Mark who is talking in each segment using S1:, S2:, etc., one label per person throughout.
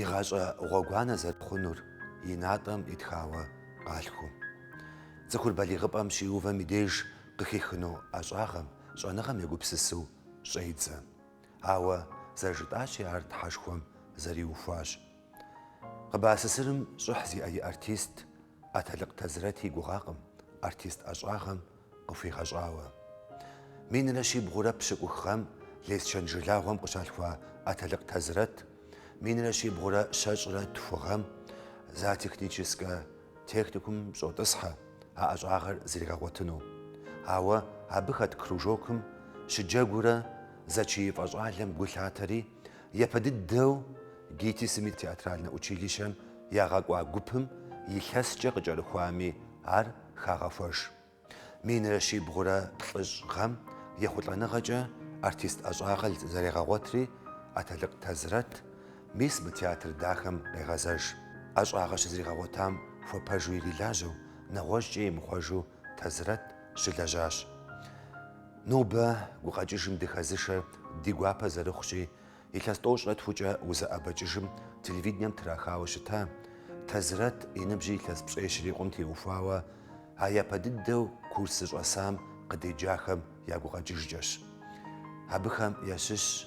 S1: И гъащӏэ гъуэгуанэ зэрыхъунур и натӏэм итхауэ къалъху. Цӏыхур балигъыпӏэм щиувэм и деж къыхихыну ӏэщӏагъэм, щӏэныгъэм егупсысу щӏедзэ. Ауэ зэрыжытӏащи, ар Тхьэшхуэм зэриухуащ. КъБАССР-м щӏыхь зиӏэ и артист, Атэлыкъ Тазрэт и гугъакъым артист ӏэщӏагъэм къыхуигъэщӏауэ. Минрэ щибгъурэ пщыкӏух гъэм Лесчэн жылагъуэм къыщалъхуа Атэлыкъ Тазрэт минрэ щибгъурэ щэщӏрэ тху гъэм зоотехническэ техникумым щӏотӏысхьэ а ӏэщӏагъэр зригъэгъуэтыну. Ауэ абы хэт кружокым щыджэгурэ зэчиифӏэ щӏалэм гу лъатэри, Япэ дыдэу ГИТИС-м и театральнэ училищэм ягъэкӏуа гупым илъэскӏэ къыкӏэрыхуами ар хагъэхуэж. Минрэ щибгъурэ плӏыщӏ гъэм ехъулӏэныгъэкӏэ артист ӏэщӏагъэр зэрегъэгъуэтри, Атэлыкъ Тазрэт мис мы театр дахэм къегъэзэж. ӏэщӏагъэ щызригъэгъуэтам хуэпэжу ирилажьэу, нэгъуэщӏкӏэ имыхъуэжу Тазрэт щылэжьащ. Нобэ гукъэкӏыжым дыхэзышэр ди гуапэ зэрыхъущи, илъэс тӏощӏрэ тхукӏэ узэӏэбэкӏыжым телевидением трахауэ щыта Тазрэт и ныбжьыр илъэс пщӏей щрикъум теухуауэ а япэ дыдэу курс зыщӏэсам къыдеджахэм я гукъэкӏыжкӏэщ. Абыхэм ящыщщ.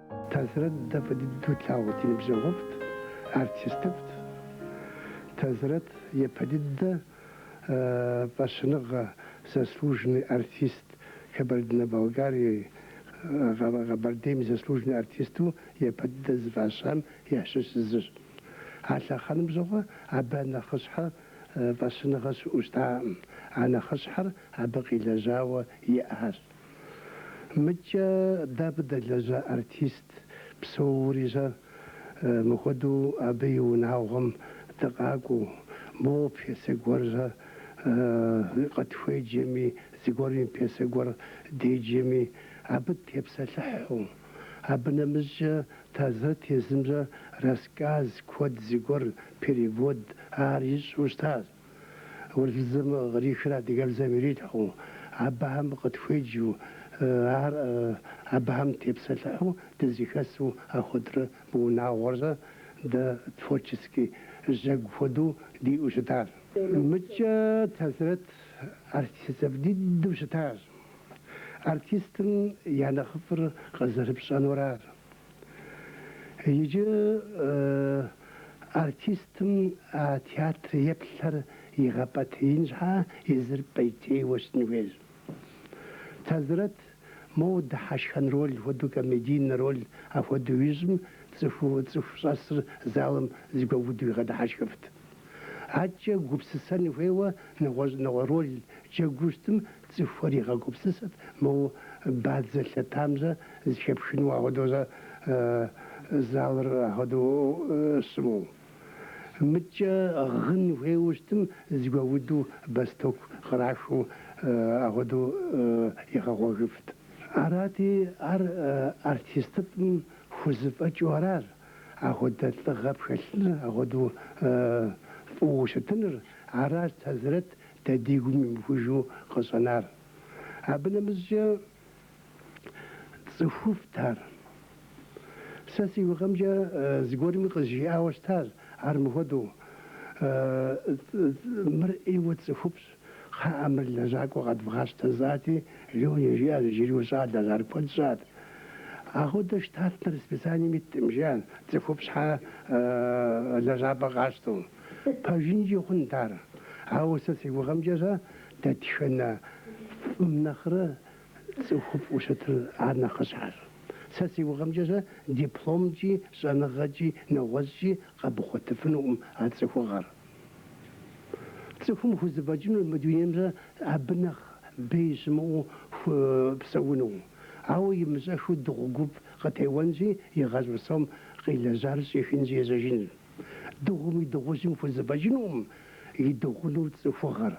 S1: Тазрэт дэ фӏы дыдэу тлъагъут, ди ныбжьэгъуфӏт, артистыфӏт. Тазрэт япэ дыдэ фӏэщыныгъэ, заслуженный артист Кабардино-Балкарии, Къэбэрдейм и заслуженный артисту япэ дыдэ зыфӏащам ящыщ зыщ. А лъэхъэнэм щыгъуэ абы а нэхъыщхьэ фӏэщыныгъэ щыӏэу щытаӏым, а нэхъыщхьэр абы къилэжьауэ иӏащ. Мыкӏэ дэ абы дэлэжьа артист псоури щӏэ, мыхуэдэу абы и унагъуэм дыкъакӏуэу, моуэ пьесэ гуэр щӏэ къытхуеджэми, зыгуэрми пьесэ гуэр деджэми, абы тепсэлъыхьу. Абы нэмыщӏкӏэ Тазрэт езым щӏэ рассказ куэд зыгуэр, перевод, ар ищӏу щытащ. Урысыбзэм кърихыр адыгэбзэм ирилъхьэу, абыхэм къытхуеджэу, ар абыхэм тепсэлъыхьу дызэхэсу апхуэдэурэ мы унагъуэр щӏэ дэ творческий жьэгу хуэдэу диӏэу щытар. Мыкӏэ Тазрэт артистыфӏ дыдэу щытащ. Артистым я нэхъыфӏыр къызэрыпщӏэнур ар Иджы артистым а театр еплъыр игъэпӏейтеин щхьа езыр пӏейтейуэ щытын хуейщ. Тэзрэт моуэ дыхьэшхэн роль хуэдэу, комедийнэ роль ахуэдэу ищӏым, цӏыхуу цӏыху щӏэсыр залым зыгуэуду игъэдыхьэшхыфт. Адкӏэ гупсысэн хуейуэ нэгъуэщӏ нэгъуэ роль джэгуу щытым цӏыхухэр игъэгупсысэрт, моуэ бадзэ лъэтамэ зыхэпхыну ахуэдэурэ залыр ахуэдэу щыму. Мыдкӏэ гъын хуейуэ щытым зыгуэуду бэлътоку кърахыу ахуэдэу игъэгъуэгыфт. Арати, ар артистыфӏым хузэфӏэкӏыу аращ. Ахуэдэ лӏыгъэ пхэлъыныр, ахуэдэу фӏыуэ щытыныр, аращ Тэзрэт дэ ди гум имыхужу къыщӏэнар. Абы нэмыщӏкӏэ цӏыхуфӏт ар. Сэ си гугъэмкӏэ зыгуэрми къызжиӏауэ щытащ ар мыхуэдэу, Мыр ӏейуэ цӏыхуфӏщ. Кхъыӏэ, мыр лэжьакӏуэ къэдвгъащтэ жысӏати, Лёне жиӏащ, иджыри ущӏалэщ, ар куэд щӏат. Ахуэдэ штатнэ расписанием иткъым, жиӏащ, цӏыхуфӏ щхьэ лэжьапӏэ къащтэу. Пэжынкӏи хъунт ар. Ауэ сэ си гугъэмкӏэ-щэ, дэтхэнэ фӏым нэхърэ цӏыхуфӏу щытыр ар нэхъыщхьэщ. Сэ си гугъэмкӏэ-щэ дипломкӏи, щӏэныгъэкӏи, нэгъуэщӏкӏи къэбгъуэтыфынукъым а цӏыхугъэр. Цӏыхум хузэфӏэкӏынущ мы дунейм-щэ абы нэхъ бей щымыӏэу псэуну. Ауэ имыщӏэхыу дыгъу гуп къытеуэнщи, и гъащӏэ псом къилэжьар щӏихынщи ежьэжынщ. Дыгъум и дыгъужьым хузэфӏэкӏынукъым идыгъуну цӏыхугъэр.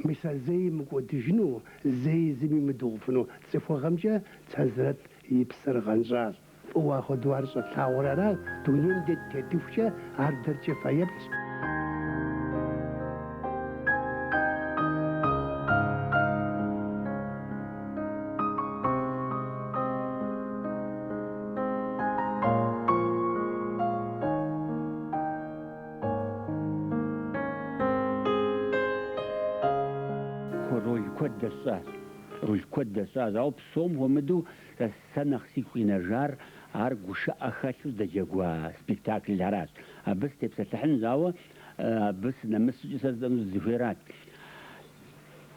S1: Мис а зэи мыкӏуэдыжыну, зэи зыми мыдыгъуфыну цӏыхугъэмкӏэ Тэзрэт и псэр гъэнщӏащ. Фӏыуэ ахуэдэу ар щӏэтлъагъур аращ, дунейм дэ дытетыхукӏэ ар дэркӏэ фэеплъщ. Роль куэд дэсщӏащ. Роль куэд дэсщӏащ, ауэ псом хуэмыдэу сэ нэхъ сигу къинэжар ар гушыӏэ хэлъу здэджэгуа спектакльхэращ. Абы сытепсэлъыхьынщ, ауэ абы сынэмыс щӏыкӏэ сэ жысӏэну сызыхуейрат.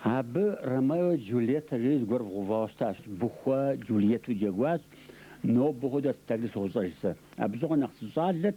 S1: Абы Ромео и Джульеттэ жери зыгуэр вгъэувауэ щытащ. Быхуэ Джульетту джэгуащ. Нобэ хуэдэу а спектакльыр сощӏэж сэ. Абы щыгъуэ нэхъ сыщӏалэт,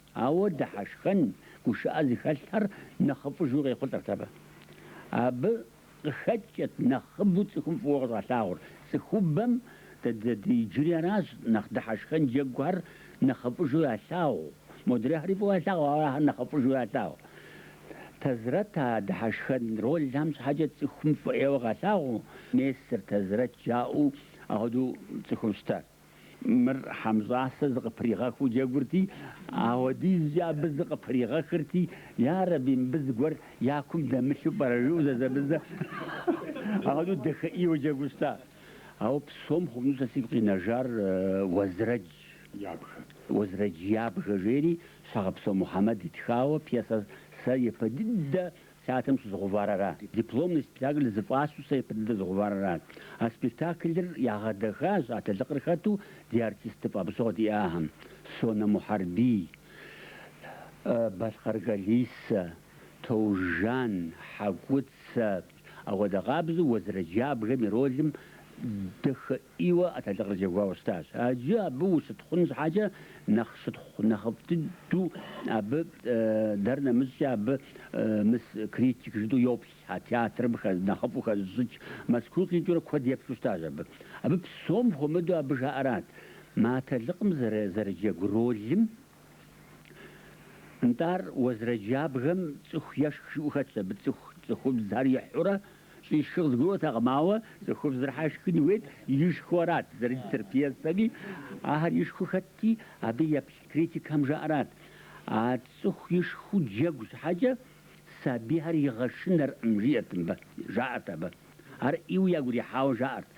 S1: Ауэ дыхьэшхэн гушыӏэ зыхэлъхэр нэхъыфӏыжу къехъулӏэрт абы. Абы къыхэкӏкӏэт нэхъыбэу цӏыхум фӏыуэ къыщӏалъагъур. Цӏыхубэм дэ ди иджыри аращ нэхъ дыхьэшхэн джэгухэр нэхъыфӏыжу ялъагъу. Модрейхэри фӏыуэ ялъагъу, ауэ ахэр нэхъыфӏыжу ялъагъу. Тэзрэт а дыхьэшхэн ролхэм щхьэкӏэ цӏыхум фӏы ӏейуэ къалъагъуу, Мес ар Тэзрэт жаӏэу апхуэдэу цӏыхум щытащ. Мыр Хьэмщӏасэ зыкъыпригъэхыу джэгурти, ауэдизкӏэ абы зыкъыпригъэхырти, Ярэби, мыбы зыгуэр я кум дэмылъу пӏэрэ? жиӏэу зэзэмызэ. Ахуэдэу дахэ ӏейуэ джэгуу щыта. Ауэ псом хъуну сэ сигу къинэжар Уэзрэдж, Уэзрэдж ябгэ жери Щхьэгъэпсо Мухьэмэд итхауэ пьесэ сэ япэ дыдэ Театрым щызгъэувар ара. Дипломный спектакль зыфӏащу сэ ипэ дыдэ згъэувар ара. А спектаклыр ягъэдэхащ Атэлыкъыр хэту ди артистыфӏ абы щыгъуэ диӏахэм, Сонэ Мухьэрбий, Балъкъэр Кэлисэ, Таужан, Хьэкуцэ, апхуэдэ къабзэу Уэзрэдж ябгэм и ролым дахэ ӏейуэ Атэлыкъыр джэгуауэ щытащ. Аджы абы ущытхъун щхьэкӏэ нэхъ щытхъу нэхъыфӏ дыдэу абы дэр нэмыщӏкӏэ абы мыс критик жытӏэу йоплъ, а театрым нэхъыфӏу хэзыщӏыкӏ Мэзкуу къикӏыурэ куэд еплъу щытащ абы. Абы псом хуэмыдэу абы жаӏэрат мы Атэлыкъым зэрыджэгу ролым Нтӏэ ар, Уэзрэдж ябгэм цӏыху ешх жиӏэу хэтт абы цӏыху цӏыхубзхэр ихьурэ щӏишхы къызгурыӏуэтэкъым, ауэ цӏыхубзыр щхьэ ишхын хуейт, ишхыу арат зэрыдитыр пьесэми, ахэр ишхыу хэтти, абы еплъ критикхэм жаӏэрат, А цӏыху ишхыу джэгу щхьэкӏэ сабийхэр игъэшынэркъым, жиӏэрт мыбы, жаӏэрт абы. Ар ӏейуэ ягурихьауэ жаӏэрт,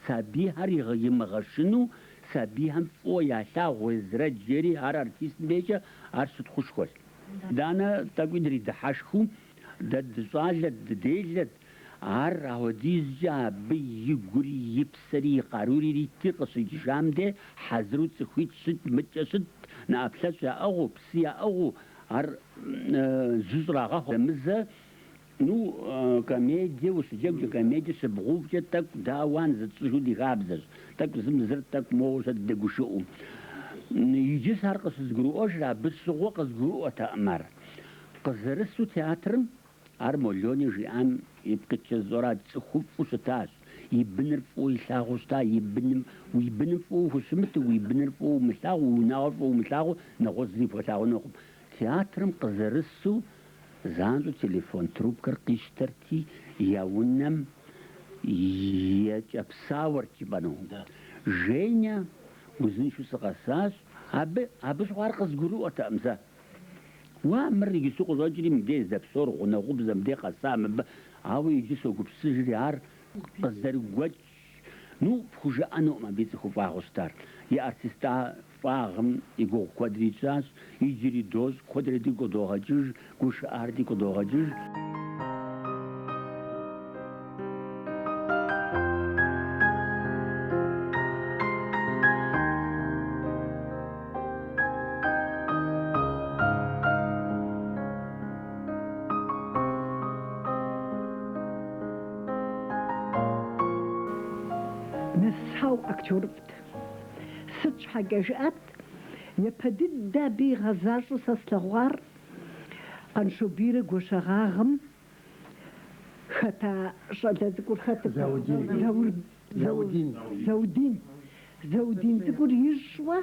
S1: Сабийхэр имыгъэшыну сабийхэм фӏыуэ ялъагъу Уэзрэдж жери, ар артистым дежкӏэ ар щытхъушхуэщ. Итӏанэ тӏэкӏуи дридыхьэшхыу, дэ дыщӏалэт, дыделэт, ар ахуэдизкӏэ абы и гури, и псэри, и къарури иритти, къыщыдэкӏыжам де хьэзыру цӏыхуитӏ щытт, мыдкӏэ щытт, нэӏэплъэщӏ яӏыгъыу, псы яӏыгъыу, ар жьы щӏрагъэху, зэмызэ Ну, комедие ущыджэгукӏэ, комедие щыбгъэувкӏэ тӏэкӏу ауан зытщӏыжу ди хабзэщ. Тӏэкӏу зым зыр, тӏэкӏу моуэ дызэдэгушыӏэу. Иджы сэ ар къыщызгурыӏуэжыр абы щыгъуэ къызгурыӏуэтэкъым ар. Къызэрысу театрым, ар Молони жиӏам ипкъ иткӏэ зыщӏэр арат, цӏыхуфӏу щытащ, и быныр фӏыуэ илъагъуу щыта, и быным, уи быным фӏыуэ ухущымыту, уи быныр фӏыуэ умылъагъуу, уи унагъуэр фӏыуэ умылъагъуу, нэгъуэщӏ зыри пхуэлъагъунукъым. Театрым къызэрысу Занщӏэу телефон трубкэр къищтэрти, я унэмкӏэ псалъэрт жыпӏэну. Женя, узыншэу сыкъэсащ, абы, абы щыгъуэ ар къызгурыӏуэтэкъым сэ. Уа, мыр иджыпсту къыщӏэкӏри, мыбдеж здэпсэур гъунэгъубзэ мыбдеж къэса мыбы, ауэ иджы согупсысыжри, ар къызэрыгуэкӏ Ну, пхужыӏэнукъым абы и цӏыхуфӏагъыу щытар. И артистыфӏагъым и гугъу куэдрэ тщӏащ, иджыри дощӏ, куэдрэ дигу къыдогъэкӏыж, гушыӏар дигу къыдогъэкӏыж. Нэсауэ актёрыфӏт. Сыт щхьэкӏэ жыӏэт, япэ дыдэ абы игъэзащӏэу сэ слъэгъуар Къаншобийрэ Гуащэгъагъым хэта щӏалэ цӏыкӏур хэтыркъым, Заур. Заудин. Заудин. Заудин цӏыкӏур ищӏуэ,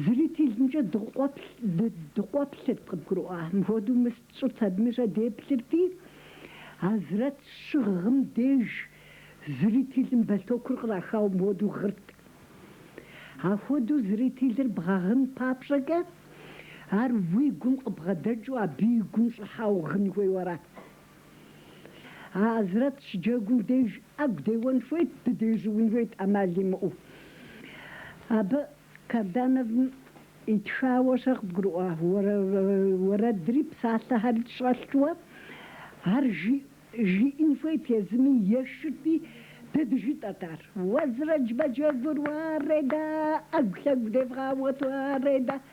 S1: зрителымкӏэ дыкъуэплъырт, къыбгурыӏуа? Мыпхуэдэу мыст щӏырт абыми щэ деплъырти, Азрэт щыгъым деж зрителым бэлътокур кърахауэ мыпхуэдэу гъырт. Ахуэдэу зрителыр бгъэгъын папщӏэкӏэ, ар уи гум къыбгъэдэкӏыу абы и гум щӏыхьауэ гъын хуейуэ арат. Азрэт щыджэгум деж ӏэгу деуэн хуейт, дыдежьуун хуейт ӏэмал имыӏэу. Абы Кардановым итхауэ щэ къыбгурыӏуа уэрэдри псалъэхэри щӏэлъти, ар жиӏэн хуейт езыми, ешырти, дэ дыжытӏэрт ар. Уэзрэдж мэджэгур уарэда, ӏэгу-лъэгу девгъауэт уарэда.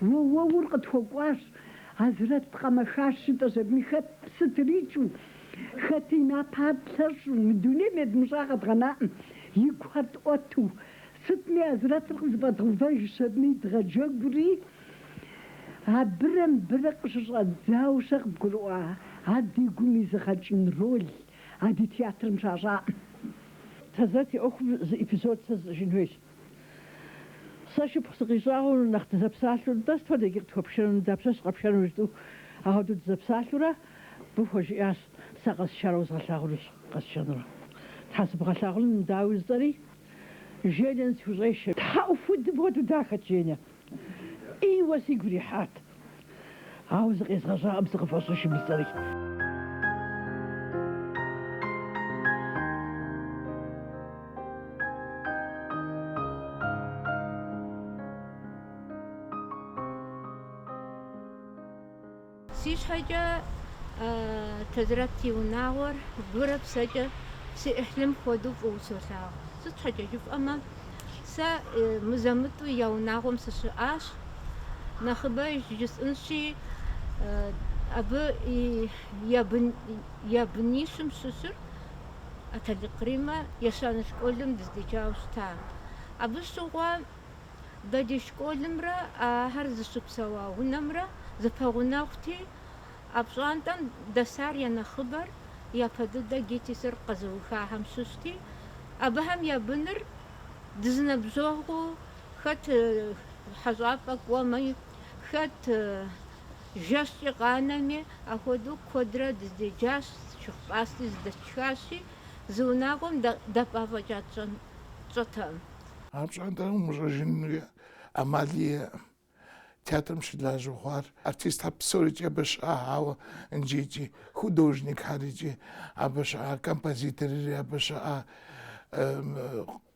S1: Уэуэур къытхуэкӏуащ, Азрэт къэмэхащ, жытӏэ жьэбми хэт псы трикӏэу, хэти и напэр тлъэщӏу, мы дунейм едмыщӏа къэдгъэнаӏым и гущхьэр тӏуэту. Сытми, Азрэтыр къызэфӏэдгъэувэж щэбми дгъэджэгури, абырэ мыбырэ къыщыщӏэдзауэ щэ къыбгурыӏуа, ар ди гум изыгъэкӏын роль, а ди театрым щащӏаӏым. Тазэт и ӏуэхум зы эпизод сэ зыщӏыжын хуейщ. Сэ шыпхъу сыкъищӏагъыу нэхъ дызэпсалъэу, нтӏэ, сыт хуэдэ иджы къытхуэпшэну, нтӏэ, дапщэщ къэпшэну жытӏэу ахуэдэу дызэпсалъэурэ, абы хуэжиӏащ, Сэ къэсшарэ узгъэлъагъунущ, къэсшэнурэ. Тхьэ сыбгъэлъагъунум, дауи, жысӏэри, Женя, схущӏешэ. Тхьэ уэ хуэдэ мыпхуэдэу дахэт, Женя, ӏейуэ сигу ирихьат. Ауэ зыкъезгъэщӏакъым сыкъыфӏэщӏыжым и цӏэри. Си щхьэкӏэ Тэзрэт и унагъуэр гурэ псэкӏэ си ӏыхьлым хуэдэу фӏыуэ солъагъу. Сыт щхьэкӏэ жыфӏэмэ, Сэ мызэ-мытӏу я унагъуэм сыщыӏащ. Нэхъыбэ жысӏынщи, абы я бынищым щыщыр ӏэтэлыкъ Риммэ ещанэ школым дыздеджауэ щыта. Абы щыгъуэ дэ ди школымрэ ахэр зыщыпсэуа унэмрэ зэпэгъунэгъути, А пщӏантӏэм дэсар я нэхъыбэр япэ дыдэ ГИТИС-р къэзыухахэм щыщти, абыхэм я быныр дызэныбжьэгъуу, хэт хьэщӏапӏэ кӏуэми, хэт жэщкӏи къанэми, ахуэдэу куэдрэ дыздеджащ, шыгъупӏасти зыдэтшхащи, зы унагъуэм дапӏа фӏэкӏа тщӏэтэкъым. А пщӏантӏэр умыщӏэжыну ӏэмал иӏэкъым. Театрым щылажьэу хъуар артистхэр псорикӏи абы щыӏа, ауэ нджикӏи художникхэрикӏи абы щыӏа, композиторри абы щыӏа,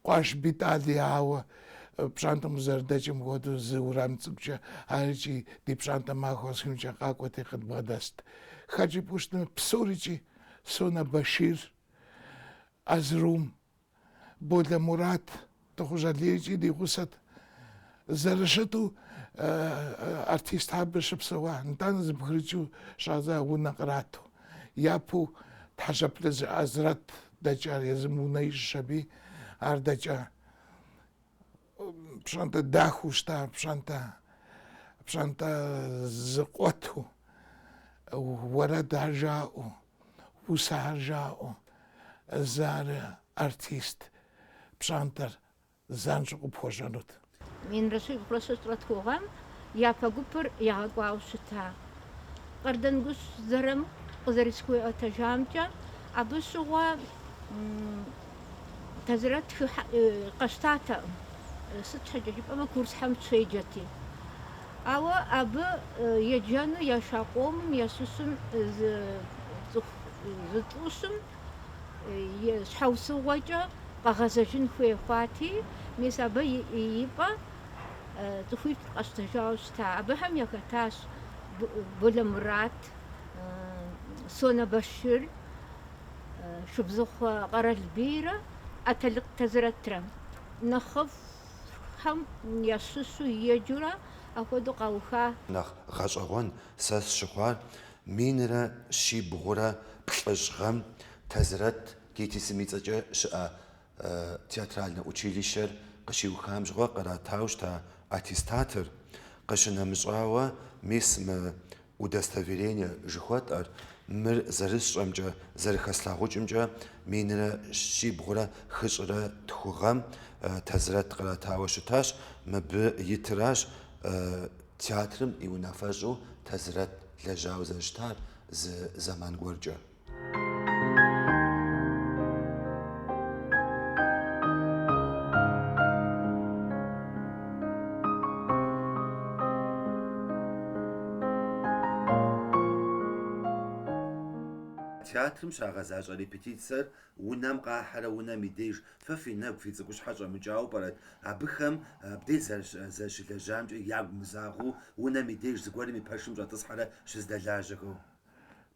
S1: Кӏуащ Бетӏали, ауэ пщӏантӏэм узэрыдэкӏым хуэдэу зы урам цӏыкӏукӏэ арикӏи ди пщӏантӏэ махуэ къэсыхункӏэ къакӏуэти къыдбгъэдэст. Хэт жыпӏэу щытмэ, псорикӏи, Сонэ Башир, Азрум, Болэ Мурат, Тыхъужь Алийкӏи ди гъусэт. Зэрыщыту артист абы щыпсэуа, нтӏанэ зэбгрыкӏыу щӏадза унэ кърату. Япэу Тхьэзэплъыж Азрэт дэкӏар, езым унэ ищӏщ аби, ар дэкӏа. Пщӏантӏэ дахэу щыта, пщӏантӏэ, пщӏантӏэ зэкъуэту, уэрэдхэр жаӏэу. усэхэр жаӏэу, зыары артист пщӏантӏэр занщӏэу къыпхуэщӏэнут. Минрэ щибгъурэ щэщӏрэ тху гъэм япэ гупыр ягъэкӏуауэ щыта Къардэнгъущӏ Зырамыку къызэрысхуиӏуэтэжамкӏэ, абы щыгъуэ Тэзрэт хыхьэу къащтатэкъым, сыт щхьэкӏэ жыпӏэмэ курсхэм щеджэти. Ауэ абы еджэну яша къомым ящыщым зы цӏыху зытӏущым щхьэусыгъуэкӏэ къагъэзэжын хуей хъуати, мис абы и пӏэ цӏыхуитӏ къащтэжауэ щыта. Абыхэм яхэтащ Болэ Мурат, Сонэ Башир, Шыбзыхъуэ Къэралбийрэ ӏэтэлыкъ Тэзрэтрэ. Нэхъыфӏ Щхьэм ящыщу еджэурэ апхуэдэу къауха. Нэхъ гъэщӏэгъуэн сэ сщыхъуар минрэ щибгъурэ плӏыщӏ гъэм Тазрэт ГИТИС-м и цӏэкӏэ щыӏэ театральнэ училищэр къыщиухам щыгъуэ къратауэ щыта аттестатыр. Къыщынэмыщӏауэ, мис мы Удостоверение жыхуэтӏэр, мыр зэрысщӏэмкӏэ, зэрыхэслъагъукӏымкӏэ, минрэ щибгъурэ хыщӏрэ тху гъэм Тазрэт къратауэ щытащ, мыбы итыращ театрым и унафэщӏу Тазрэт лэжьауэ зэрыщытар зы зэман гуэркӏэ. Театрым щагъэзащӏэ репетицэр унэм къахьэрэ унэм и деж фэ фи нэгу, фи цӏыкӏущхьэр щӏэмыкӏауэ пӏэрэт? Абыхэм абдей зэрыщылэжьамкӏэ ягу мызагъэу унэм и деж зыгуэрым и пэшым щӏэтӏысхьэрэ щыздэлажьэхэу?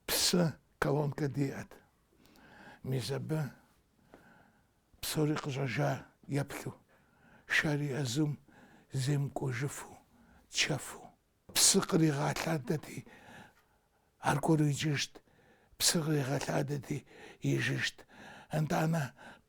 S1: Псы колонкэ диӏэт. Мис абы псори къыщӏэжауэ еплъу, шэри ӏэзум земыкӏуэжыфу, чэфу. Псы къригъэлъадэти, аргуэру иджыжт, псы къригъэлъадэти, ижыжт. Итӏанэ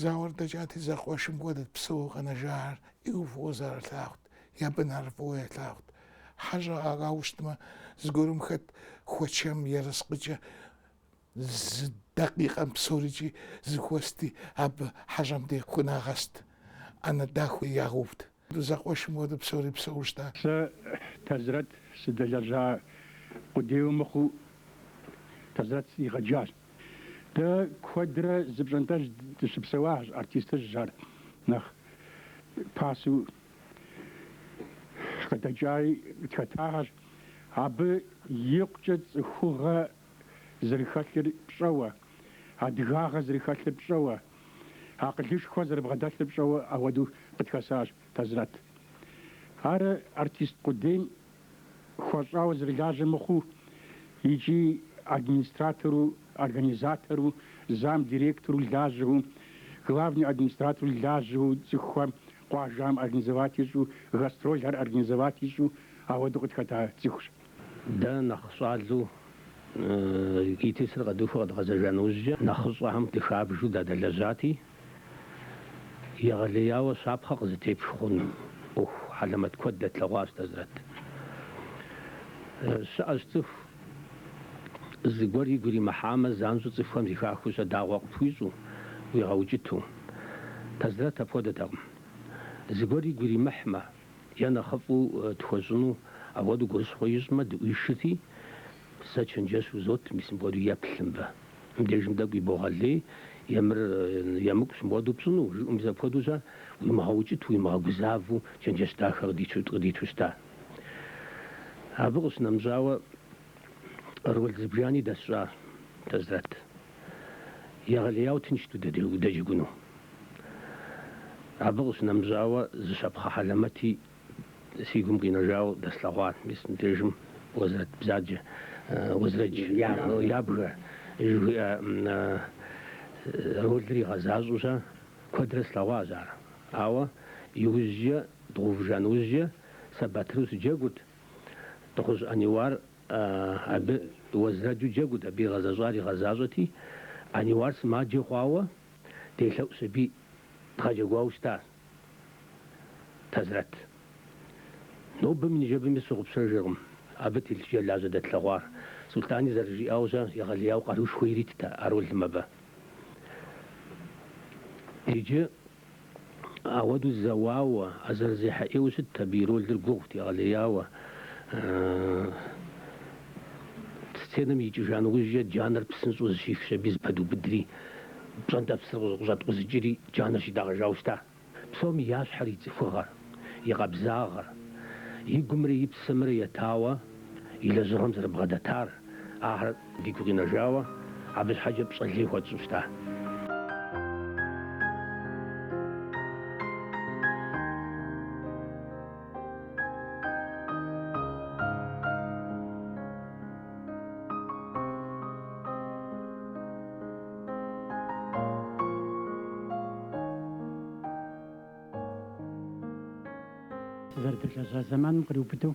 S1: Зауэр дэкӏати, зэкъуэшым хуэдэт псэууэ къэнэжахэр ӏейуэ фӏыуэ зэрылъагъут, я бынхэр фӏыуэ ялъагъут. Хьэщӏэ иӏауэ щытмэ, зыгуэрым хэт хуэчэм ерыскъыкӏэ зы дакъикъэм псорикӏи зыхуэсти, абы хьэщӏэм дей хунагъэст, ӏэнэ дахэуи ягъэувт. Зэкъуэшым хуэдэу псори псэуу щыта. Сэ, Тазрэт, сыдэлэжьа къудейуэ мыхъуу, Тазрэт сригъэджащ. Дэ куэдрэ зы пщӏантӏэжь дыщыпсэуащ, артистыжьхэр, нэхъ пасэу къыдэкӏари тхэтахэщ. Абы икъукӏэ цӏыхугъэ зэрыхэлъыр пщӏэуэ, адыгагъэ зэрыхэлъыр пщӏэуэ. акъылышхуэ зэрыбгъэдэлъыр пщӏэуэ ауэдэу къытхэсащ Тазрэт. Ар артист къудейм хуэщӏауэ зэрылажьэ мыхъуу икӏи администратору, организатору, зам директору лажьэу, главный администратору лажьэу, цӏыхухэм къуажэм организовать ищӏу, гастролхэр организовать ищӏу ауэдэу къытхэта цӏыхущ. Дэ нэхъ щӏалэу ГИТИС-р къэдухуэ къэдгъэзэжа нэужькӏэ, нэхъыщӏэхэм дыхабжу дадэлэжьати, егъэлеяуэ щапхъэ къызытепх хъуну ӏуэху хьэлэмэт куэд дэтлъэгъуащ Тазрэт. Щыӏэщ цӏыху, зыгуэр игу иримыхьамэ, занщӏэу цӏыхухэм зэхахыу щэ дагъуэ къыпхуищӏу, уигъэукӏыту. Тазрэт апхуэдэтэкъым. Зыгуэр игу иримыхьмэ. Е нэхъыфӏу тхуэщӏыну апхуэдэу гурыщхъуэ ищӏмэ, дыӏуишыти, сэ чэнджэщ узот, мис мыпхуэдэу еплъ мыбы. Мыбдежым тӏэкӏу ибогъэлей е мыр емыкӏущ мыпхуэдэу пщӏыну, жиӏэу мис апхуэдэу щэ, уимыгъэукӏыту, уимыгъэгузавэу чэнджэщ дахэ къыдиту щыта. Абы къыщынэмыщӏауэ, Роль зыбжани дэсщӏа Тазрэт. Егъэлеяуэ тыншт удэджэгуну. Абы къыщынэмыщӏауэ, зы щапхъэ хьэлэмэти си гум къинэжауэ дэслъэгъуа, мис мыбдежым Уэзрэдж бзаджэ, Уэзрэдж ябгэ жыхуиӏэ ролыр игъэзащӏэу щэ куэдрэ слъэгъуащ ар. Ауэ иужькӏэ, дгъуувыжа нэужькӏэ, сэ Батыру сыджэгурт. Тыхъужь Аниуар абы Уэзрэджу джэгут, абы игъэзэщӏар игъэзащӏэти, Аниуар сымаджэ хъуауэ делъэӏущ аби дгъэджэгуауэ щыта Тазрэт. Нобэми ныжэбэми сщыгъупщэжыркъым абы телъыджэлажьэ дэтлъэгъуар. Сулътӏани зэрыжиӏауэ-щэ, егъэлеяуэ къарушхуэ иритт а ролым абы. Иджы Апхуэдэу зэуауэ, а зэрызехьэ ӏейуэ щытт абы и ролыр гугъут, егъэлеяуэ. Сценэм икӏыжа нэужькӏэ джанэр псынщӏэу зыщихщ аби, зыпэдубыдри, пщӏэнтӏэ псыр къыщӏэткъузыкӏри, джанэр щитӏэгъэжауэ щыта. Псом ящхьэр и цӏыхугъэр, и къабзагъэр, и гумрэ и псэмрэ етауэ. и лэжьыгъэм зэрыбгъэдэтар, ахэр дигу къинэжауэ, абы щхьэкӏэ пщӏэ лей хуэтщӏу щыта. Сызэрыдэлэжьа зэманым къриубыдэу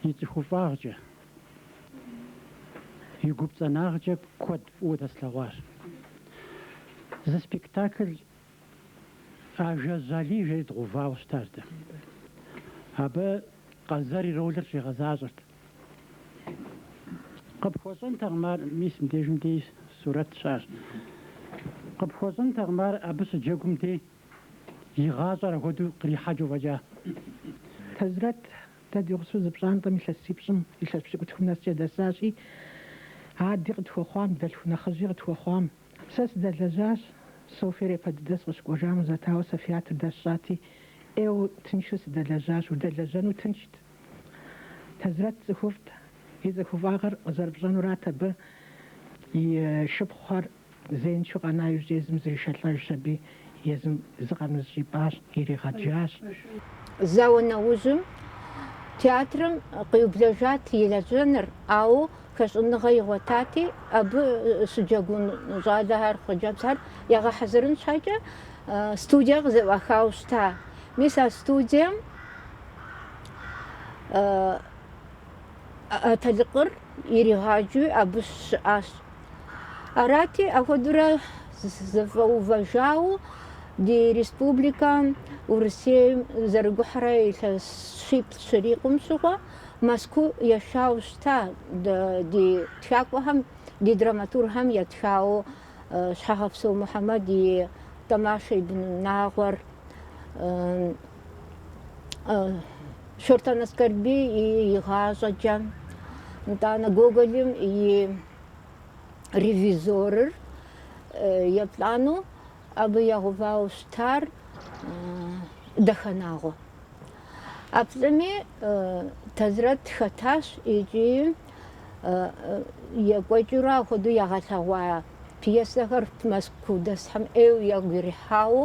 S1: и цӏыхуфӏагъкӏэ, и гупцӏэнагъкӏэ куэд фӏыуэ дэслъэгъуащ. Зы спектакль Ажэжь Алий жери дгъэувауэ щытащ дэ. Абы Къэзэр и ролыр щигъэзащӏэрт. Къыпхуэщӏэнтэкъым ар, мис мыбдежым дей сурэт щыӏэщ. Къыпхуэщӏэнтэкъым ар абы щыджэгум дей. и гъащӏэр ахуэдэу кърихьэкӏыу фӏэкӏа. Тазрэт, дэ ди гъусэу зы пщӏантӏэм илъэсипщӏым илъэс пщыкӏутхум нэскӏэ дэсащи, ади къытхуэхъуам, дэлъху нэхъыжьи къытхуэхъуам. Сэ сыдэлэжьащ, Софьер япэ дыдэ сыкъыщыкӏуэжам къызатауэ Софьятыр дэсщӏати, ӏейуэ тыншу сыдэлэжьащ, удэлэжьэну тыншт. Тазрэт цӏыхуфӏт, и цӏыхуфӏагъыр къызэрыпщӏэнурат абы и шыпхъухэр. Зеиншэу къэна иужькӏэ езым зришэлӏэжщ аби, езым зыкъом зыщӏипӏащ, иригъэджащ. Зауэ нэужьым театрым къиублэжат и лэжьэныр, ауэ хэщӏыныгъэ игъуэтати, абы щыджэгун щӏалэхэр, хъыджэбзхэр ягъэхьэзырын щхьэкӏэ студие къызэӏуахауэ щыта. Мис а студием Атэлыкъыр иригъаджэу абы щыӏащ Арати, апхуэдэурэ зэфӏэувэжауэ ди республикэм Урысейм зэрыгухьэрэ илъэс щиплӏ щырикъум щыгъуэ Мэзкуу яшауэ щыта ди тхакӏуэхэм, ди драматургхэм ятхауэ Щхьэгъэпсо Мухьэмэд и Тӏэмашэ и бынунагъуэр. Шортэн Аскэрбий и Игъащӏэкӏэ, нтӏанэ Гоголым и Ревизорыр, еплӏанэу абы ягъэувауэ щытар Дахэнагъуэ. А плӏыми Тазрэт хэтащ икӏи екӏуэкӏыурэ ахуэдэу ягъэлъэгъуа пьесэхэр Мэзкуу дэсхэм ӏейуэ ягу ирихьауэ,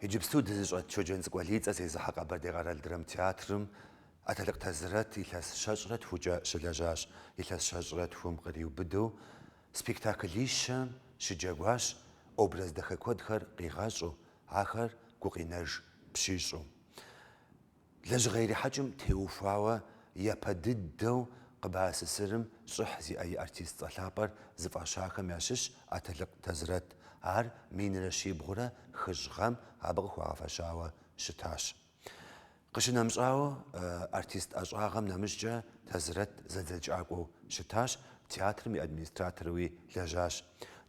S1: Иджыпсту дызыщӏэт Щоджэнцӏыкӏу Алий и цӏэ зезыхьэ Къэбэрдей къэрал драмтеатрым Атэлыкъ Тазрэт илъэс щэщӏрэ тхукӏэ щылэжьащ. Илъэс щэщӏрэ тхум къриубыдэу спектаклищэм щыджэгуащ, образ дахэ куэдхэр къигъэщӏу, ахэр гукъинэж пщищӏу. Лэжьыгъэ ирихьэкӏым теухуауэ япэ дыдэу КъБАССР-ым щӏыхь зиӏэ и артист цӏэ лъапӏэр зыфӏащахэм ящыщщ Атэлыкъ Тазрэт. Ар минрэ щибгъурэ хыщӏ гъэм абы къыхуагъэфэщауэ щытащ. Къыщынэмыщӏауэ, артист ӏэщӏагъэм нэмыщӏкӏэ Тазрэт зэдзэкӏакӏуэу щытащ, театрым и администраторуи лэжьащ.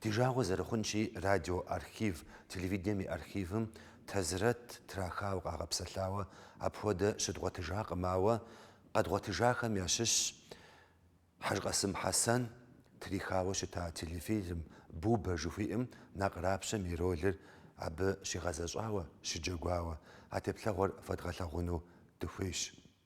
S1: Ди жагъуэ зэрыхъунщи, радио архив, телевидением и архивым Тазрэт трахауэ къагъэпсэлъауэ апхуэдэ щыдгъуэтыжакъым, ауэ къэдгъуэтыжахэм ящыщщ Хьэжкъасым Хьэсэн трихауэ щыта телефильм Бубэ жыхуиӏэм Накърапщэм и ролыр абы щигъэзэщӏауэ, щыджэгуауэ. А теплъэгъуэр фэдгъэлъэгъуну дыхуейщ.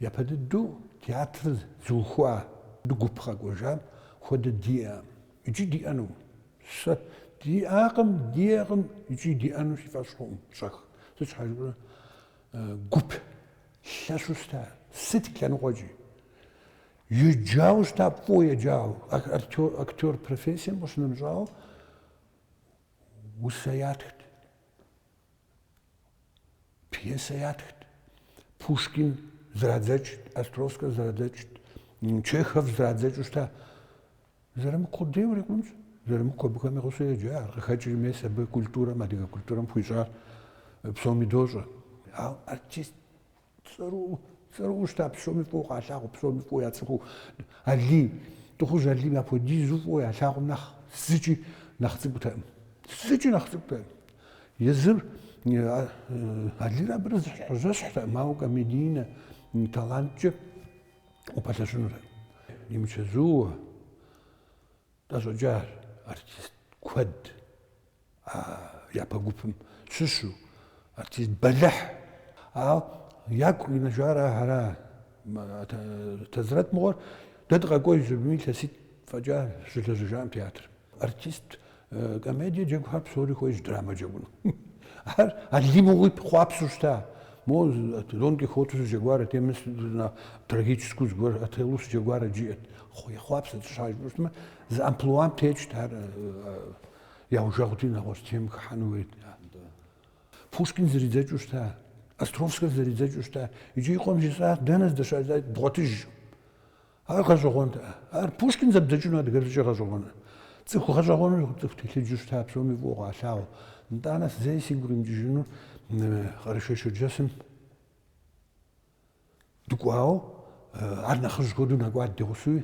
S1: Япэ дыдэу театрыр зыухуа гуп къэкӏуэжам хуэдэ диӏэкъым икӏи диӏэнукъым. Сэ диӏакъым, диӏэкъым икӏи диӏэну си фӏэщ хъуӏым, щӏэх. Сыт щхьэ жыпӏэмэ, гуп лъэщу щыта, сыт лъэныкъуэкӏи. Еджауэ щыта, фӏыуэ еджауэ, актер профессием къыщынэмыщӏауэ усэ ятхт. Пьесэ ятхт. Пушкин зэрадзэкӏт, Островскэ зэрадзэкӏт, Чехов зэрадзэкӏыу щыта. Зырамыку къудей урикъунщ. Зырамыку абыхэм я гъусэу еджа. Ар къыхэкӏри мис абы культурэм, адыгэ культурэм хуищӏар псоми дощӏэ. Ауэ артист Цӏэрыӏуэу, цӏэрыӏуэу щыта псоми фӏыуэ къалъагъуу, псоми фӏыуэ яцӏыхуу Алий, Тӏыхъужь Алийм апхуэдизу фӏыуэ ялъагъум нэхъ зыкӏи нэхъ цӏыкӏутэкъым. Зыкӏи нэхъ цӏыкӏутэкъым. Езыр Алийр абырэ зыщхьэжьэщхьтэкъым, ауэ комедийнэ таланткӏэ упэлъэщынутэкъым. Имычэзууэ. Тӏэщӏэкӏащ артист куэд а япэ гупым щыщу, артист бэлыхь. Ауэ ягу къинэжар ара, Тэзрэт мыгъуэр дэ дыкъэкӏуэж жыпӏэми, илъэситӏ фӏэкӏа щылэжьэжакъым театрым. Артист комедие джэгухэр псори хуейщ драмэ джэгуну. Ар Алий мыгъуи ехъуапсэу щыта. Мо Дон Кихоту щыджэгуарэт, мис трагическэу зыгуэр Отелло щыджэгуарэт жиӏэт. Ехъуапсэт, щхьэ жыпӏэмэ, зы амплуам текӏт ар яужэгъути нэгъуэщӏ тем хыхьэну хуейт. Пушкин зэридзэкӏыу щыта, Островскэ зэридзэкӏыу щыта, иджы и къуэм жесӏат, дэнэ здэщылъыр, бгъуэтыж. Ар гъэщӏэгъуэнт. Ар Пушкин зэбдзэкӏыну адыгэбзэкӏэ гъэщӏэгъуэныр. Цӏыху гъэщӏэгъуэну цӏыху телъыджу щыта, псоми фӏыуэ къалъагъуу. Итӏанэ сэ зэи сигу римыкӏыжыну Къэрэшей-Шэрджэсым Дыкӏуауэ, ар нэхъыжь хуэдэу нэкӏуат ди гъусэуи.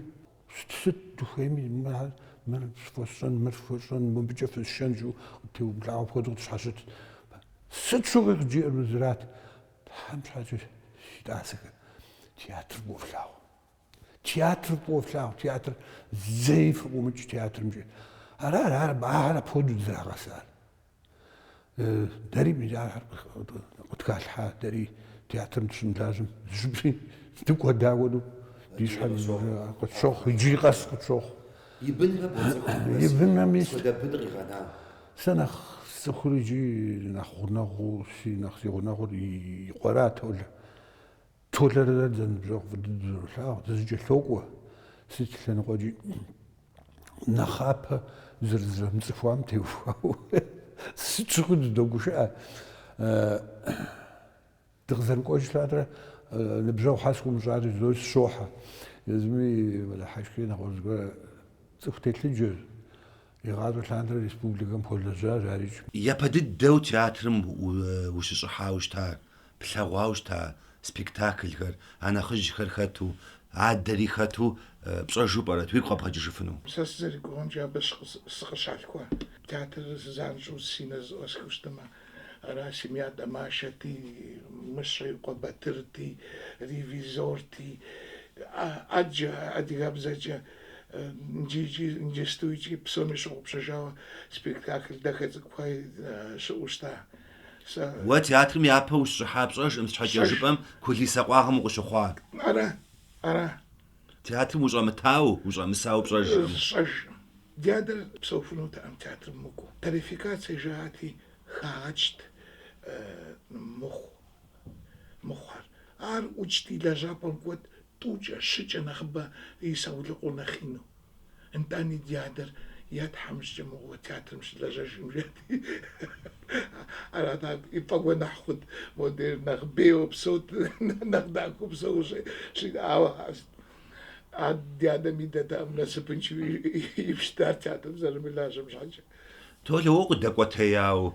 S1: Сыт, сыт дыхуейми, мыр, мыр фхуэсщӏэн, мыр фхуэсщӏэн, мыбыкӏэ фысшэн жиӏэу къыттеубгъуауэ хуэдэу къытщхьэщытт. Сыт щыгъуи къыджиӏэр мы зырат. Тхьэм щхьэкӏэ, си тӏасэхэ, театр фӏыуэ флъагъу. Театр фӏыуэ флъагъу, театр зэи фыкъыӏумыкӏ театрымкӏэ. Ара, ара, ахэр апхуэдэу дызрагъэсар. дэри мис ахэр къытхалъхьа, дэри театрым дыщымылажьэм зыщӏыпӏи дыкӏуэдауэну ди щхьэ къытщохъу, иджыри къэс къытщохъу. И бынрэ бгъэцӏэкӏухэмрэ И бынрэми сыт хуэдэ бын къигъэна? Сэ нэхъ сцӏыхур иджы нэхъ гъунэгъуу, си нэхъ си гъунэгъур и къуэра Толэ. Толэрэ дэрэ дызэныбжьэгъу, фӏы дыдэу дызэролъагъу, дызэкӏэлъокӏуэ сыт лъэныкъуэкӏи нэхъапэ зэрызэрымыцӏыхуам теухуауэ. Сыт щыгъуи дыдогушыӏэ. Дыкъызэрыкӏуэж лъандэрэ ныбжьэгъу щхьэ сыкъыумыщӏарэ жызоӏэри сыщохьэ. Езыми мэдыхьэшхри, нэгъуэщӏ зыгорэ цӏыху телъыджэщ. Игъащӏэ лъандэрэ республикэм хуэлэжьащ ар икӏи. Япэ дыдэу театрым ущыщӏыхьауэ щыта, плъэгъуауэ щыта спектаклхэр, а нэхъыжьхэр хэту, адэри хэту пщӏэжу пӏэрэт, уигу къэбгъэкӏыжыфыну? Сэ сызэрыгугъэмкӏэ абы сыкъыщалъхуа театрыр занщӏэу си нэр зыӏуэсхыу щытмэ, Ара, Семья Тэмашэти, Мыщэ и къуэ Батырти, Ревизорти, ӏэджэ, адыгэбзэкӏэ, иджыкӏи, иджыпстуикӏи псоми ящыгъупщэжауэ спектакль дахэ цӏыкӏухэ щыӏэу щыта. Сэ. Уэ театрым япэ ущыщӏыхьа пщӏэжкъым сыт щхьэкӏэ жыпӏэм кулисэ къуагъым укъыщыхъуа? Ара, ара. Театрым ущӏэмытауэ, ущӏэмысауэ пщӏэжкъым. Сщӏэжкъым. Ди адэр псэуфынутэкъым театрым мыкӏуэу. Тарификацэ жаӏати, хагъэкӏт мыхъу мыхъухэр. Ар ӏукӏти, лэжьапӏэм кӏуэт тӏукӏэ, щыкӏэ нэхъыбэ и саулыкъур нэхъ ину. Нтӏани, ди адэр е тхьэмыщкӏэ мыгъуэ театрым щылэжьэжкъым жаӏати, арат ар яфӏэгуэныхь хъут, модрейм нэхъ бейуэ псэут, нэхъ дахэу псэу щиӏауэ. Ди анэм ди адэр насыпыншэу ибжт ар театрым зэрымылажьэм щхьэкӏэ. Толэ уэ укъыдэкӏуэтеяуэ,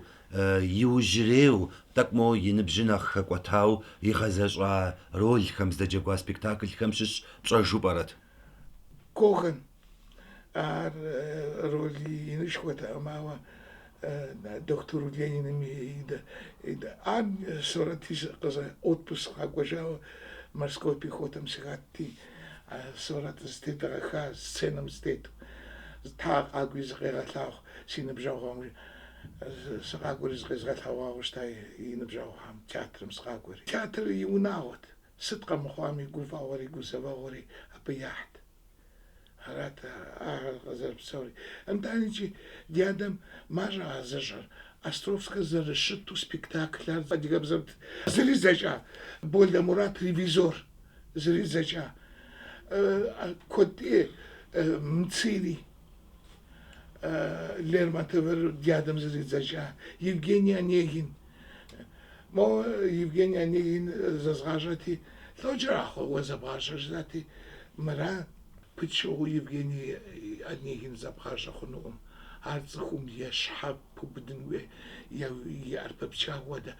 S1: иужьрейуэ, тӏэкӏу моуэ и ныбжьыр нэхъ хэкӏуэтауэ игъэзэщӏа ролхэм, здэджэгуа спектаклхэм щыщ пщӏэжу пӏэрэт? Коган. Ар роли инышхуэтэкъым, ауэ дохутыр Лениным и дэӏэм сурэти щыӏэ. Отпуск сыкъэкӏуэжауэ Морской пехотэм сыхэтти, сурэт зытедгъэха сценэм сытету, тхьэ къакӏуи зыкъегъэлъагъу си ныбжьэгъухэм. Сыкъакӏуэри зыкъезгъэлъэгъуауэ щыта и ныбжьэгъухэм, театрым сыкъакӏуэри. Театрыр и унагъуэт, сыт къэмыхъуами гуфӏэгъуэри гузэвэгъуэри абы яхьт. Арат ахэр къызэрыпсэури. Нтӏани икӏи ди адэм мащӏэ а зыщӏэр. Островскэ зэрыщыту спектакль ар адыгэбзэм зэридзэкӏа. Болэ Мурат Ревизор зэридзэкӏа. Куэд ӏей, Мцыри Лермонтовыр ди адэм зэридзэкӏа Евгений Онегин. Моуэ Евгений Онегин зэзгъащӏэти, лӏо кӏэрахъуэ уэ зэбгъащӏэр жызати, мыра пычыгъуэу Евгений Онегин зэбгъащӏэ хъунукъым. Ар цӏыхум е щхьэ пыбудын хуей, е и ӏэр пыпча хуэдэ.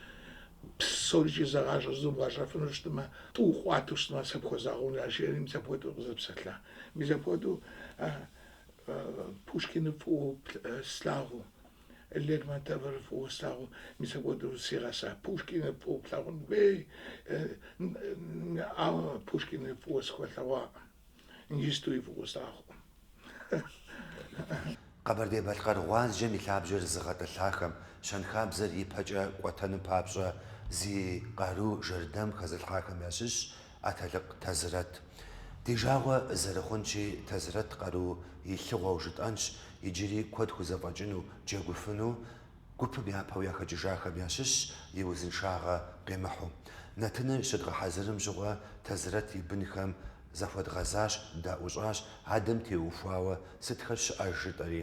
S1: Псорикӏ зэгъащӏэ зэбгъэщӏэфыну щытмэ, тӏу къуату щытмэ, сэ пхуэзгъэгъунщ ар жери, мис апхуэдэу къызэпсэлъа. Мис апхуэдэу Пушкиныр фӏыуэ слъагъуу, Лермонтовыр фӏыуэ слъагъуу, мис апхуэдэу сигъэса. Пушкиныр фӏыуэ плъагъун хуей, ауэ Пушкиныр фӏыуэ схуэлъэгъуакъым. Иджыстуи фӏыуэ слъагъукъым. Къэбэрдей-Балъкъэр гъуазджэм и лъабжьэр зыгъэтӏылъахэм, щэнхабзэр ипэкӏэ кӏуэтэным папщӏэ зи къару жэрдэм хэзылъхьахэм ящыщщ Атэлыкъ Тэзрэт. Ди жагъуэ зэрыхъунщи, Тэзрэт къару илъыгъуэу жытӏэнщ, иджыри куэд хузэфӏэкӏыну, джэгуфыну, гупым япэу яхэкӏыжахэм ящыщщ и узыншагъэ къимыхьу. Нэтыныр щыдгъэхьэзырым щыгъуэ Тэзрэт и бынхэм захуэдгъэзащ, даӏущӏащ, адэм теухуауэ сытхэр щыӏэж жытӏэри.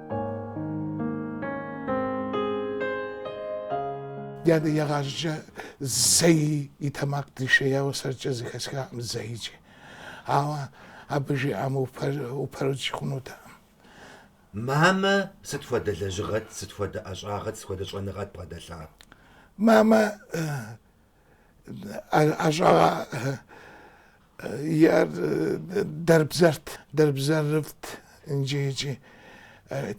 S1: Дядэ игъащӏэкӏэ зэи и тэмакъ дишеяуэ сэркӏэ зэхэсхакъым зэикӏи. Ауэ абы жиӏам упэрыкӏ хъунутэкъым. Мамэ сыт хуэдэ лэжьыгъэт, сыт хуэдэ ӏэщӏагъэт, сыт хуэдэ щӏэныгъэт бгъэдэлъа? Мамэ ӏэщӏагъэ иӏэр дэрбзэрт, дэрбзэрыфӏт иджы икӏи.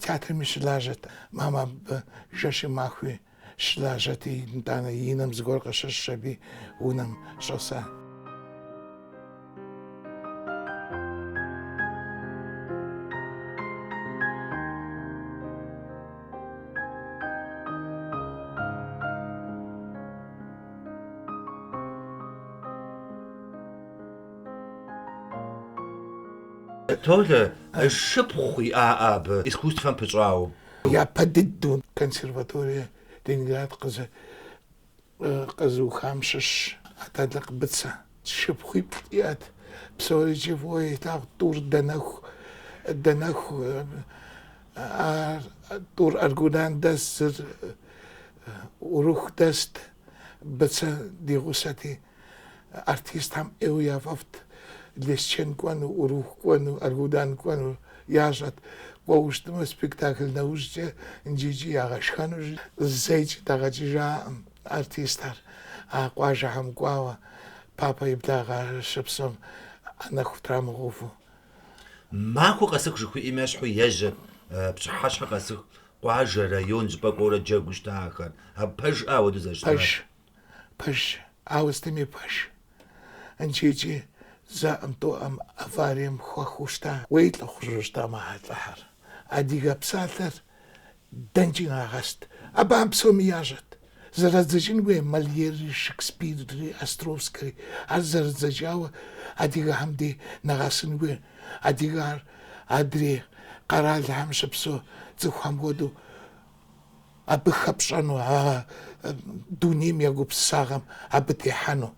S1: Театрми щылажьэт. Мамэ абы жэщи махуи щылажьэт, итӏанэ и нэм зыгуэр къыщыщӏщ аби унэм щӏэса. Толэ, шыпхъу иӏа абы искусствэм пыщӏауэ? Япэ дыдэу консерваторие Ленинград Къэзыухам щыщщ Атэлыкъ Быцэ шыпхъуиплӏ иӏэт. Псорикӏ фӏыуэ илъагъут, тӏур дэнэху, дэнэху а тӏур Аргудан дэст, зыр Урыху дэст. Быцэ ди гъусэти, Артистхэм ӏейуэ яфӏэфӏт Лесчэн кӏуэну, Урыху кӏуэну, Аргудан кӏуэну ящӏэт. Кӏуэу щытмэ, спектакль нэужькӏэ нджыкӏи ягъэшхэну зэикӏ дагъэкӏыжаӏым артистхэр. А къуажэхэм кӏуауэ Папэ и благъэ щыпсэум нэху трамыгъуфу. Махуэ къэсыху жыхуиӏэм ещхьу ежьэ, пщыхьэщхьэ къэсыху, къуажэ, район жьыпӏэ кӏуэурэ джэгуу щыта ахэр. Абы пэжыӏэ ауэдэу зэрыщытар? Пэж. Пэж, ауэ сытми пэж. Нджыкӏи зэӏым-тӏэуӏым аварием хэхуэу щыта. Уей лӏыхъужьу щыта мыхьэлӏэхэр. Адигэ псалъэр дэнэкӏи нагъэст. Абы ар псоми ящӏэт. Зэрадзэкӏын хуей Мольерри, Шекспирри, Островскэри. Ар зэрадзэкӏауэ адигэхэм дей нэгъэсын хуей. Адигэр адрей къэралхэм щыпсэу цӏыхухэм хуэдэу абы хэпщӏэну, а дунейм я гупсысагъэм абы техьэну,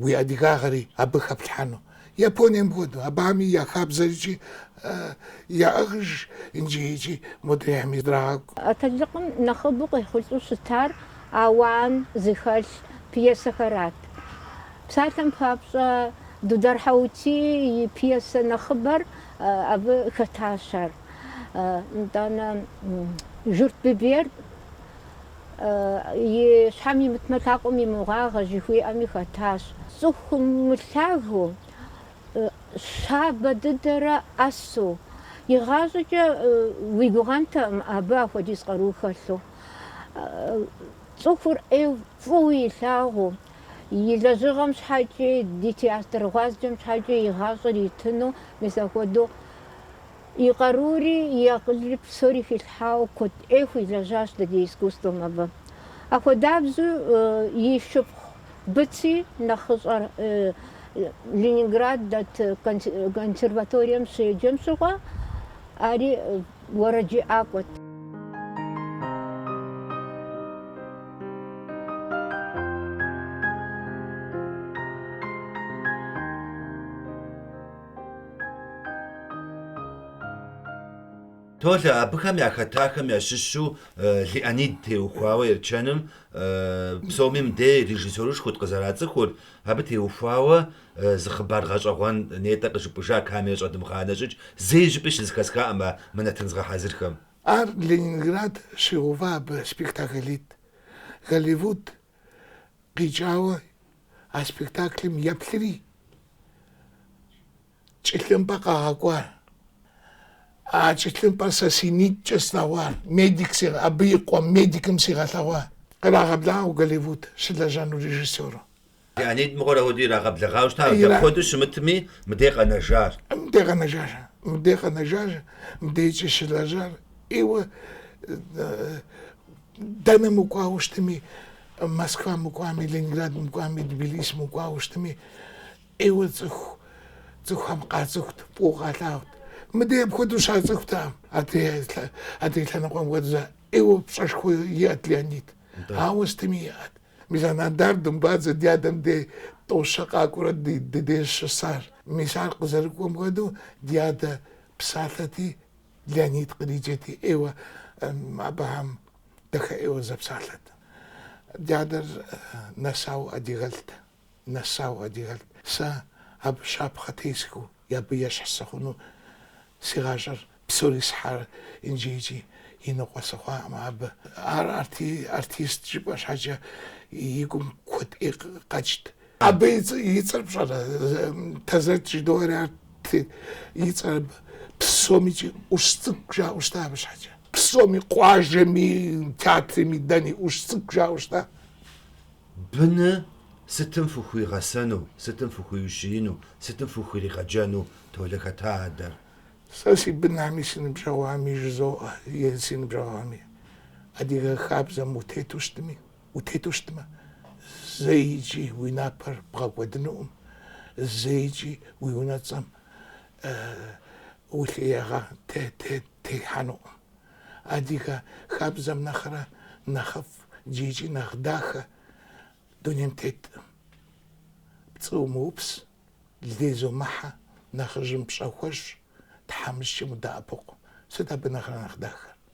S1: уи адыгагъэри абы хэплъхьэну. Японием хуэдэу, абыхэми я хабзэр икӏи яӏыгъыж нджыкӏи модрейхэми здрагъэкӏу. Атэлыкъым нэхъыбэу къехъулӏэу щытар ауан зыхэлъ пьесэхэрат. Псалъэм папщӏэ, Дудар Хьэутий и пьесэ нэхъыбэр абы хэтащ ар. Нтӏанэ, Журт Биберд и щхьэм имытмэ, лъакъуэм и мыгъуагъэ жыхуиӏэми хэтащ. Цӏыху мылъагэу, щабэ дыдэрэ ӏэсу, игъащӏэкӏэ уи гугъэнтэкъым абы апхуэдиз къару хэлъу. Цӏыхур ӏейуэ фӏыуэ илъагъуу, и лэжьыгъэм щхьэкӏи, ди театр гъуазджэм щхьэкӏи и гъащӏэр итыну, мис апхуэдэу. И къарури, и акъылри псори хилъхьауэ куэд ӏей хуилэжьащ дэ ди искусствэм абы. Ахуэдабзэу и шыпхъу Быци нэхъыщӏэр Ленинград дэт консерваторием щеджэм щыгъуэ, ари уэрэджыӏакӏуэт. Толэ, абыхэм яхэтахэм ящыщу Леонид теухуауэ Ерчэным псоми мыдей режиссерышхуэт къызэрацӏыхур, абы теухуауэ зы хъыбар гъэщӏэгъуэн нетӏэ къыжыпӏэжа камера щӏэдмыгъанэ щӏыкӏэ зэи жьыпӏи щызэхэсхакъым а мынэтын згъэхьэзырхэм. Ар Ленинград щигъэува абы спектаклитӏ, Голливуд Къикӏауэ а спектаклым еплъри, чӏылъымпӏэ къагъэкӏуар. А чӏылъымпӏэр сэ си нитӏкӏэ слъэгъуар, медик си, абы и къуэм медикым сигъэлъэгъуа. Кърагъэблагъэу Голливуд щылэжьэну режиссёру. Леонид мыгъуэр апхуэдэу ирагъэблэгъауэ щытащ, дапхуэдэу щымытми, мыдей къэнэжар. Мыдей къэнэжар, мыдей къэнэжар, мыдейкӏи щылэжьар, ӏейуэ Дэнэ мыкӏуауэ щытми, Москва мыкӏуами, Ленинград мыкӏуами, Тбилиси мыкӏуауэ щытми, ӏейуэ цӏыху цӏыхухэм къацӏыхут, фӏыуэ къалъагъут. Мыдэ апхуэдэу щацӏыхутэкъым, адрей лъэныкъуэм хуэдизу ӏейуэ пщӏэшхуэ иӏэт Леонид. Ауэ сытми иӏэт. Мис а Нодар Думбадзэ ди адэм де тӏо-щэ къакӏуэрэ ди деж щысар. Мис ар къызэрыкӏуэм хуэдэу ди адэ псалъэти, Леонид къриджэти ӏейуэ абыхэм дахэ ӏейуэ зэпсалъэт. Ди адэр нэсауэ адыгэлӏт, нэсауэ адыгэлӏт. Сэ абы щапхъэ тесхыу, абы ещхь сыхъуну си гъащӏэр псори схьар иджыкӏи и ныкъуэ сыхъуакъым абы. Ар артист жыпӏэ щхьэкӏэ и гум куэд ӏей къэкӏт. Абы и цӏ- и цӏэр пщӏэрэ? Тэзрэт жыдоӏэри арт и цӏэр абы. Псоми икӏи ӏущ цӏыкӏу жаӏэу щыта абы щхьэкӏэ. Псоми, къуажэми, театрми, дэни ӏущ цӏыкӏу жаӏэу щыта. Быныр сытым фыхуигъэсэну, сытым фыхуиущиину, сытым фыхуиригъэджэну Толэ, хэта адэр? Сэ си бынами, си ныбжьэгъуами жызоӏэ, е си ныбжьэгъуами. Адыгэ хабзэм утету щытми. Утету щытмэ, зэи икӏи уи напэр бгъэкӏуэдынукъым, зэи икӏи уи унэцӏэм улъиягъэ техьэнукъым. Адыгэ хабзэм нэхърэ нэхъыфӏ икӏи нэхъ дахэ дунейм теткъым, пцӏы умыупс, лей зумыхьэ, нэхъыжьым пщӏэ хуэщӏ, тхьэмыщкӏэм удэӏэпыкъу. Сыт абы нэхърэ нэхъ дахэр?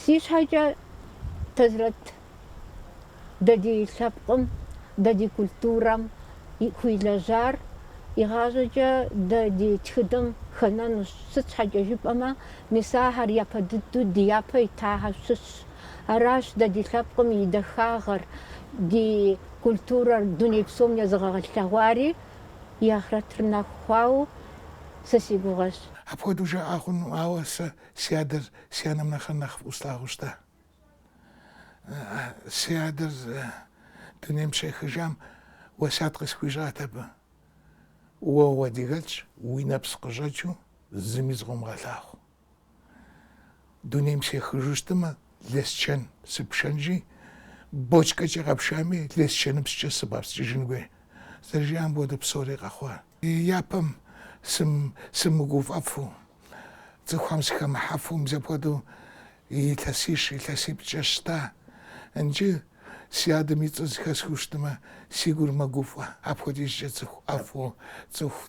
S1: Си щхьэкӏэ Тэзрэт дэ ди лъэпкъым, дэ ди культурэм хуилэжьар, игъащӏэкӏэ дэ ди тхыдэм хэнэнущ. Сыт щхьэкӏэ жыпӏэмэ, мис ахэр япэ дыдэу ди япэ итахэм щыщщ. Аращ дэ ди лъэпкъым и дахагъэр, ди культурэр дуней псом езыгъэгъэлъэгъуари, и ахърэтыр нэху хъуауэ сэ си гугъэщ. Апхуэдэу жаӏэ хъуну, ауэ сэ си адэр си анэм нэхърэ нэхъ фӏыуэ слъагъуу щыта. Си адэр дунейм щехыжам уэсят къысхуищӏат абы. Уэ уадыгэлӏщ, уи нэпс къыщӏэкӏыу зыми зыкъомыгъэлъагъу. Дунейм сехыжу щытымэ, Лэскэн сыпшэнщи, бочкэкӏэ къэпшами, Лэскэныпскӏэ сыбгъэпскӏыжын хуей. Зэрыжиӏам хуэдэу псори къэхъуа. Япэм сымыгуфӏэфу, цӏыхухэм сыхэмыхьэфу, мис апхуэдэу илъэсищ, илъэсиплӏкӏэ щыта. Иджы си адэм и цӏэр зыхэсхыу щытымэ, си гур мэгуфӏэ, апхуэдизкӏэ цӏыху ӏэфӏу, цӏыху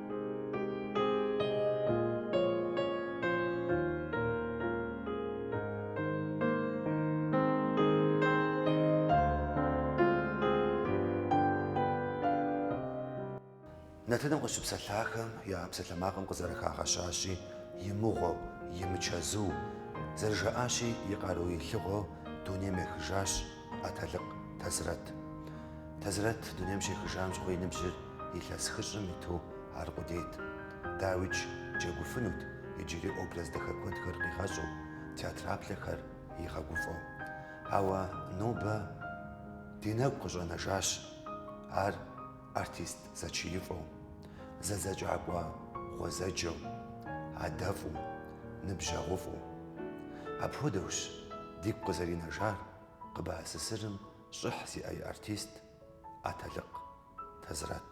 S1: Нэтыным къыщыпсэлъахэм я псалъэмакъым къызэрыхагъэщащи, и мыгъуэу, и мычэзуу, зэрыжаӏащи, и къару илъыгъуэу дунейм ехыжащ, Атэлыкъ Тэзрэт. Тэзрэт дунейм щехыжам щыгъуи и ныбжьыр илъэс хыщӏым иту аркъудейт. Дауикӏ джэгуфынут, иджыри образ дахэ куэдхэр къигъэщӏу, театреплъхэр игъэгуфӏэу. Ауэ нобэ ди нэгу къыщӏэнэжащ ар. Артист зэчиифӏэу, зэдзэкӏакӏуэ гъуэзэджэу, адэфӏу, ныбжьэгъуфӏу. Апхуэдэущ дигу къызэринэжар КъБАССР-м щӏыхь зиӏэ и артист Атэлыкъ Тэзрэт.